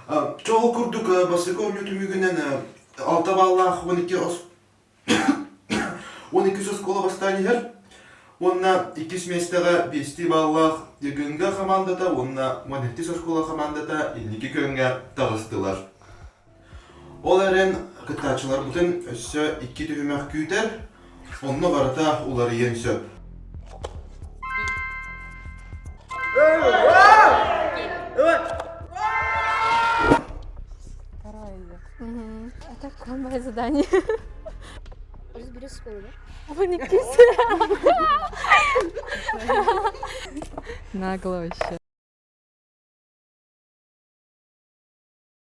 Чэ ол курдук бастакы оонньуу түмүгүнэн алта баллаах уон икки он иккис оскуола бастаан иһэр уонна иккис миэстэҕэ биэстии баллаах ГКНГ хамаандата уонна уон сэттис оскуола хамаандата инники күөҥҥэ таҕыстылар Ол эрэн кыттааччыларбытын өссө икки түһүмэх күүтэр, онно барыта уларыйыан сөп. Это конное задание. Разберешь школу, да? Вникните. Нагло вообще.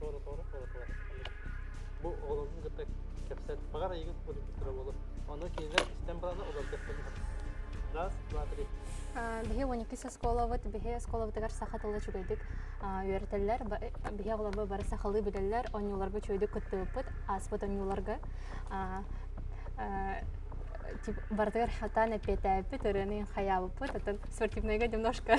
Тоолотоору холотоору. Бу оҕолорун кытта кэпсэт. Баҕар айыгын көрдөрө буолу. Ону кинилэр истэн барана олордохтон Раз, два, три. Биһи 12 оскуолабыт, биһи оскуолабытыгар саха тылы үчүгэйдик үөрэтэллэр, биһи оҕолорбо бары сахалыы билэллэр, онньууларга үчүгэйдик кыттыбыппыт, ааспыт онньууларга барытыгар хатаан эппиэтээппит, ырыаны хайаабыппыт, оттон спортивнайга немножко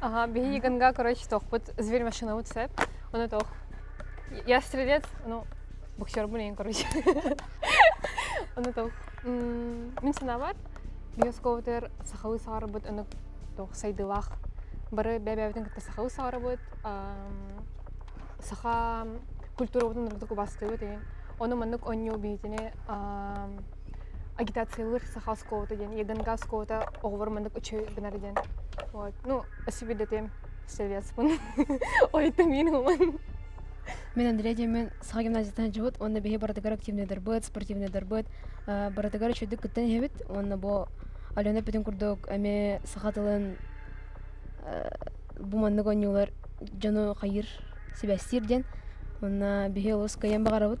Ага, биһигиганга, короче, туохпут зверь машинабыт сөп. Ону туох я стрелец, ну, боксербун эйин, короче. Ону туох мин санаабар, биосковтар сахалыы саҕарарбыт онук туох сайдыылаах бары бэбэбитин кытта сахалыы саҕарабыт. Саха культурабытын ордук убастыыбыт эйин. Ону маннык онньуу биитини агитациялыыр саха оскуолата диэн ягонга оскуолата оҕолор маннык үчүгэй гынар диэн вот ну спасибо для тебя советспун ойта минимуман Мин Андрей диэмин саха гимназияттан дьыбыт уонна биһи барытыгар активныйдарбыт, спортивныйдарбыт, барытыгар үчүгдүк кыттан иһэбит уонна бу Алена бүтүн курдук эми саха тылын бу маннык оонньуулар дьону хайыыр сибэстиир диэн уонна биһи олус кыайан баҕарабыт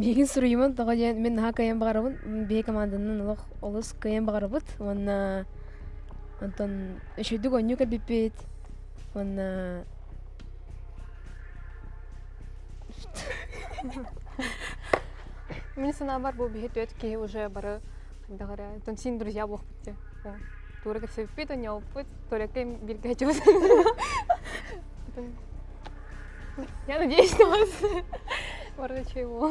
Биһигин суруйумун тоҕо диэн мин наһаа кыайан баҕарабын биһи команданан олох олус кыайан баҕарабыт уонна онтон өшөйдүк онньуу кэлбиппит уонна Мне наоборот был беседует киһи уже бары хайдаҕара там син друзья буолбут дии туурга все впитывание опыт только им биргачыбыз я надеюсь что у вас бары чего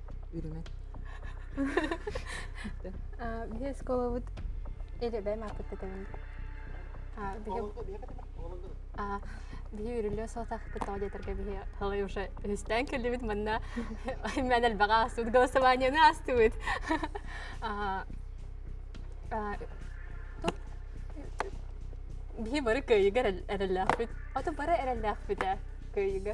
үрүҥэ биһи оскуолабыт элэбэм аппыккытабын биһи үрүллүө суотахпыт тоҕо диэтэргэ биһи талай уже үстээн кэллибит манна мен элбэҕэ аастыбыт голосованиены аастыбыт биһи бары кыайыга эрэллээхпит ото бары эрэллээхпит ээ кыайыга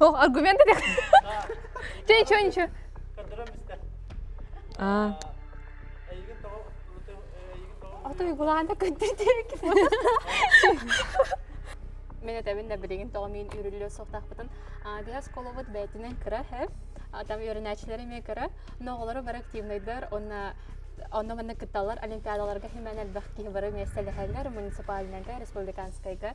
О, аргумент это? Че, че, ничего. А. Ото игулаанда көттүрдүрүк. Мен этэбин да билигин тоҕомиин үрүллүө суохтаахпытын. Дыһа сколобут бээтинен кыра хэв. Там үөрэнээччилэри ме кыра, но оҕолору бар активныйдар, онна онно манна кытталлар олимпиадаларга химэн элбэх киһи бары месте лэхэллэр муниципальнайга республиканскайга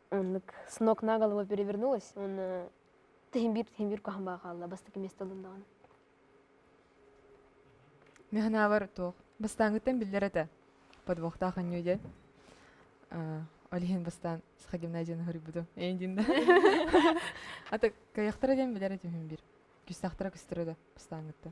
Оннук с ног на голову перевернулась, он э, тэһимбиир тэһимбиир куһан баҕа хаалла бастакы место ылын даҕаны. Механавар туох бастааҥҥыттан биллэр этэ подвохтаах анньыы дьэ ол иһин бастаан саха гимназияны хоруйбутум эйин динда ата кайахтара диэн билэр этим биир күстахтара күстэрэ да бастааҥҥытта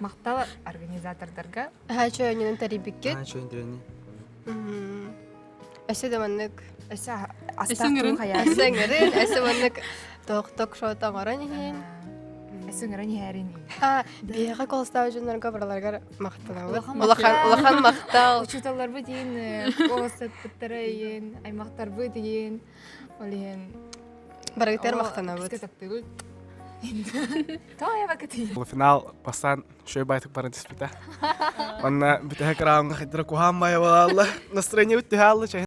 махтал организатордарга чөөнүнэн тэрийбиккит өсө да маннык өсө астаҥырын астаҥырын өсө маннык ток ток шот оҥорон иһин өсөҥөрөн иһэрин биһиэхэ колстаах дьоннорго барыларыгар махтанабыт улахан улахан махтал учууталларбыт иин оҕолорбут иин аймахтарбыт иин Ол иһин барыгытар махтанабыт. Финал бастаан үчүгэй байтык баран түспүтэ. Онно бүтэһи кырааҕынга хайдара куһаан баайа буолалла. Настроение бүттүһэ